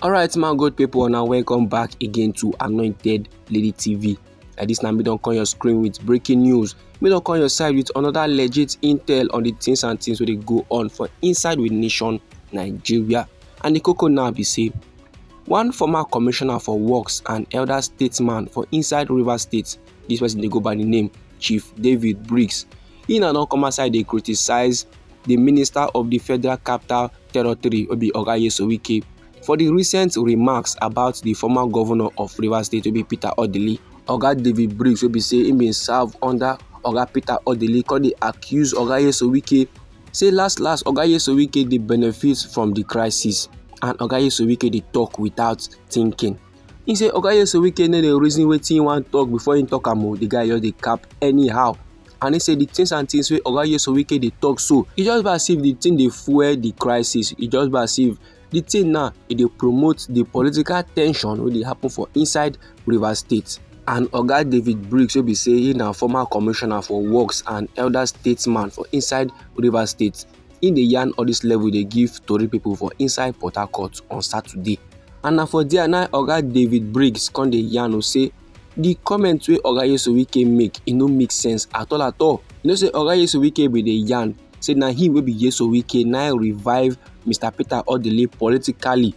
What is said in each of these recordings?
alright my good people now welcome back again to anointed lady tv like this now we don't call your screen with breaking news we don't call your side with another legit intel on the things and things where they go on for inside with nation nigeria and the coco now be say one former commissioner for works and elder statesman for inside river state this person they go by the name chief david briggs He na don come outside dey criticize the Minister of the Federal Capital Territory, Obi Oga Nyesom Wike, for the recent remarks about the former governor of Rivers State, Obi Peter Odili. Oga David Briggs, wey be say he bin serve under Oga Peter Odili, come dey accuse Oga Nyesom Wike say last last Oga Nyesom Wike dey benefit from the crisis and Oga Nyesom Wike dey talk without thinking. He say Oga Nyesom Wike no dey reason wetin he wan talk before he talk am o, oh. the guy just dey cap anyhow. And he say the things and things wey Oga Nyesom Wike dey talk so, e just be as if the thing dey fuel the crisis, e just be as if the thing now e dey promote the political tension wey dey happen for inside Rivers State. And Oga David Briggs wey be say he na former commissioner for works and elder statesman for inside Rivers State He dey yarn all this level dey give tori people for inside Port Harcourt on Saturday. And na for there na Oga David Briggs come dey yarn o say the comment wey Oga Yesu Wike make e no make sense at all at all. You know say Oga Yesu Wike bin dey yarn say na him wey be Yesu Wike na revive Mr Peter Odili politically.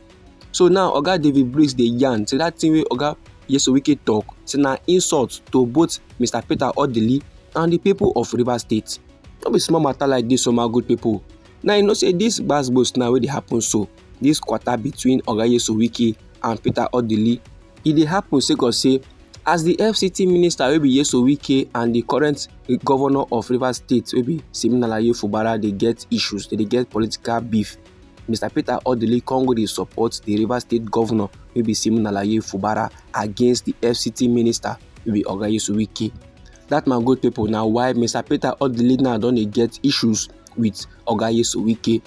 So now Oga David Briggs dey yarn say that thing wey Oga Yesu Wike talk say na insult to both Mr Peter Odili and the people of Rivers State. no be small matter like this, so my good people now you know say this gbas gbos now wey dey happen so this quarter between oga yesu wike and peter odili e dey happen sake of say as the fct minister wey be yesu wike and the current governor of rivers state wey be siminalayi fubara dey get issues dey get political beef mr peter odili come go dey support the rivers state governor wey be siminalayi fubara against the fct minister wey be oga yesu wike That man good people na why Mr. Peter Odili now don dey get issues with Oga Yesu Wike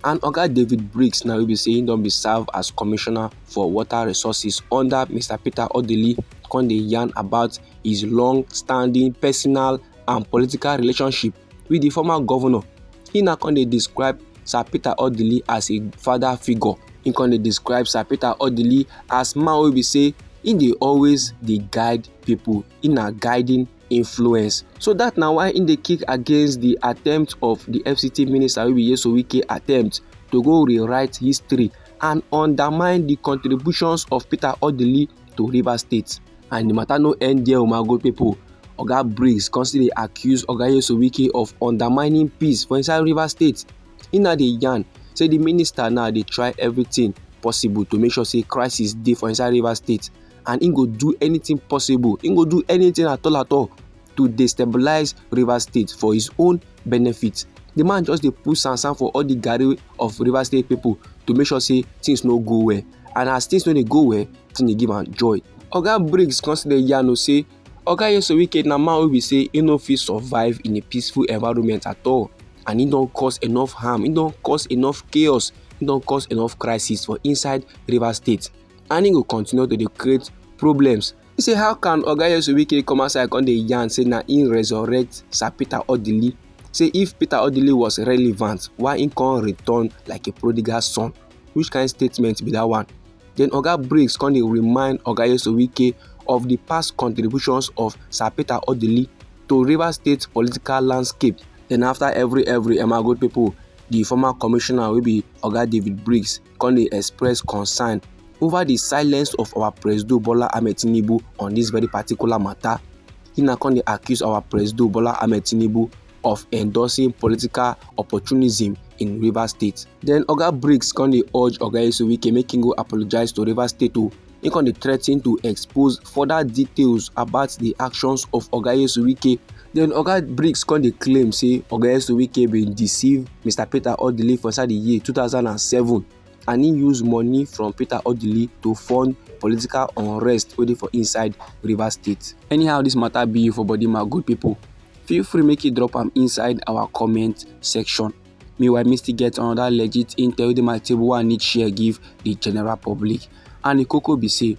and Oga David Briggs now wey be say he don be serve as commissioner for water resources under Mr. Peter Odili come dey yarn about his long-standing personal and political relationship with the former governor. He now come dey describe Sir Peter Odili as a father figure. He come dey describe Sir Peter Odili as man wey be say he dey always dey guide people in a guiding influence so dat na why im dey kick against di attempt of di fct minister wey be nyesom wike attempt to go rewrite history and undermine di contributions of peter odili to rivers state and di matter no end there umago pipo oga briggs come still dey accuse oga nyesom wike of undermining peace for inside rivers state im na dey yarn say di minister now dey try everything possible to make sure say crisis dey for inside rivers state and he go do anything possible he go do anything at all at all to destabilize rivers state for his own benefit the man just dey put sansan for all the garri of rivers state people to make sure say things no go well and as things no dey go well things dey give am joy oga briggs come still dey yarn o say oga yeso wike na man wey be say he no fit survive in a peaceful environment at all and he don cause enough harm he don cause enough chaos he don cause enough crisis for inside rivers state and he go continue to dey create problems He say how can oga yesu wike come outside come dey yarn say na him resurrect sir peter odili say if peter odili was relevant why he come return like a prodigal son which kind statement be that one then oga briggs come dey remind oga yesu wike of the past contributions of sir peter odili to rivers state political landscape then after every every emma good people the former commissioner wey be oga david briggs come dey express concern over the silence of our presido bola ahmed tinubu on this very particular matter he na come dey accuse our presido bola ahmed tinubu of endorsing political opportunism in rivers state then oga briggs come dey urge oga esowike make him go apologise to rivers state o oh, He come dey threaten to expose further details about the actions of Oga Yesuwike. Then Oga Briggs come dey claim say Oga Yesuwike bin deceive Mr. Peter Odili for inside the year 2007 and he use money from Peter Odili to fund political unrest wey dey for inside Rivers State. Anyhow this matter be you for body my good people, feel free make you drop am inside our comment section. Meanwhile, me still get another legit intel wey dey my table wey I need share give the general public. And the koko be say,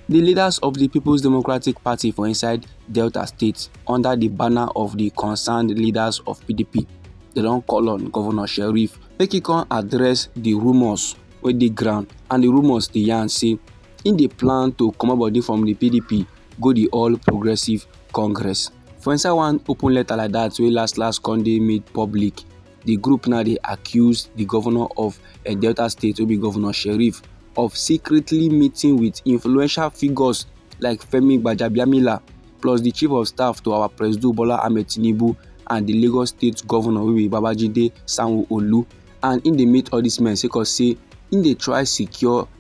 the leaders of the People's Democratic Party for inside Delta State under the banner of the concerned leaders of PDP, they don call on Governor Sheriff make he come address the rumours wey dey ground and the rumours dey yarn say he dey plan to comot body from the PDP go the All Progressives Congress. For inside one open letter like that, we last last con dey made public, the group now they accuse the governor of a eh, Delta State will be Governor Sheriff of secretly meeting with influential figures like Femi Gbajabiamila plus the chief of staff to our President Bola Ahmed Tinubu and the Lagos State Governor wey be Babajide Sanwo-Olu and im dey meet all these men sake of say im dey try secure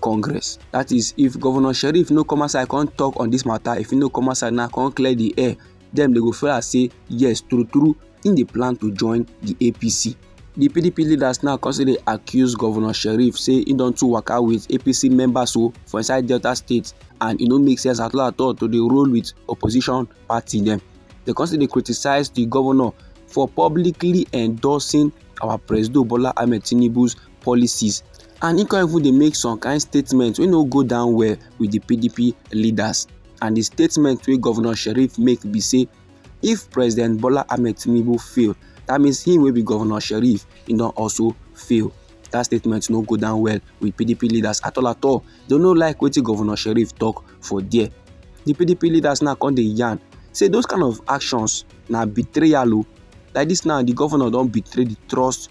congress that is if governor sheriff no come outside come talk on this matter if he no come outside now come clear the air then they go feel as say yes true true in the plan to join the apc The pdp leaders now come dey accuse governor sheriff say he don too waka with apc members o for inside delta state and e no make sense at all at all to dey roll with opposition party dem dem come still dey criticise di governor for publicly endorsing our presido bola ahmed tinubu's policies and he come even dey make some kind statements wey no go down well with the pdp leaders and the statement wey governor sheriff make be say if president bola ahmed tinubu fail that means him wey be governor sheriff he don also fail that statement no go down well with pdp leaders at all at all they no like wetin governor sheriff talk for there the pdp leaders now come dey yarn say those kind of actions na betrayal o oh. like this now the governor don betray the trust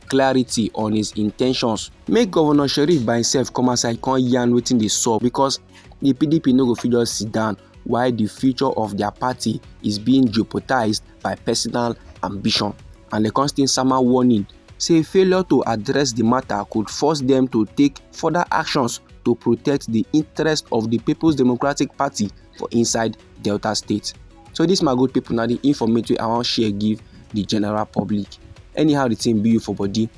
clarity on his intentions make governor sheriff by himself come outside come yarn wetin dey sup because the pdp no go fit just sit down while the future of their party is being jeopardized by personal ambition and the constant sama warning say failure to address the matter could force them to take further actions to protect the interest of the people's democratic party for inside delta state so this my good people now the informate wey i wan share give the general public anyhow the thing be you for body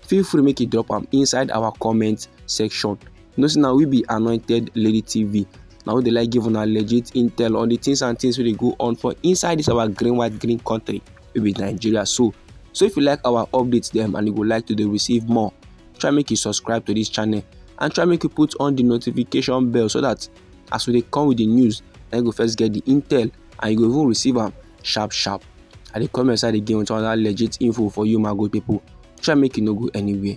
feel free make you drop am inside our comment section you know say na we be anointed lady tv na we dey like give una legit intel on the things and things wey dey go on for inside this our green white green country wey be nigeria so so if you like our updates dem and you go like to dey receive more try make you subscribe to this channel and try make you put on the notification bell so that as we dey come with the news na you go first get the intel and you go even receive am sharp sharp i dey come your side again with another legit info for you my good people try make you no go anywhere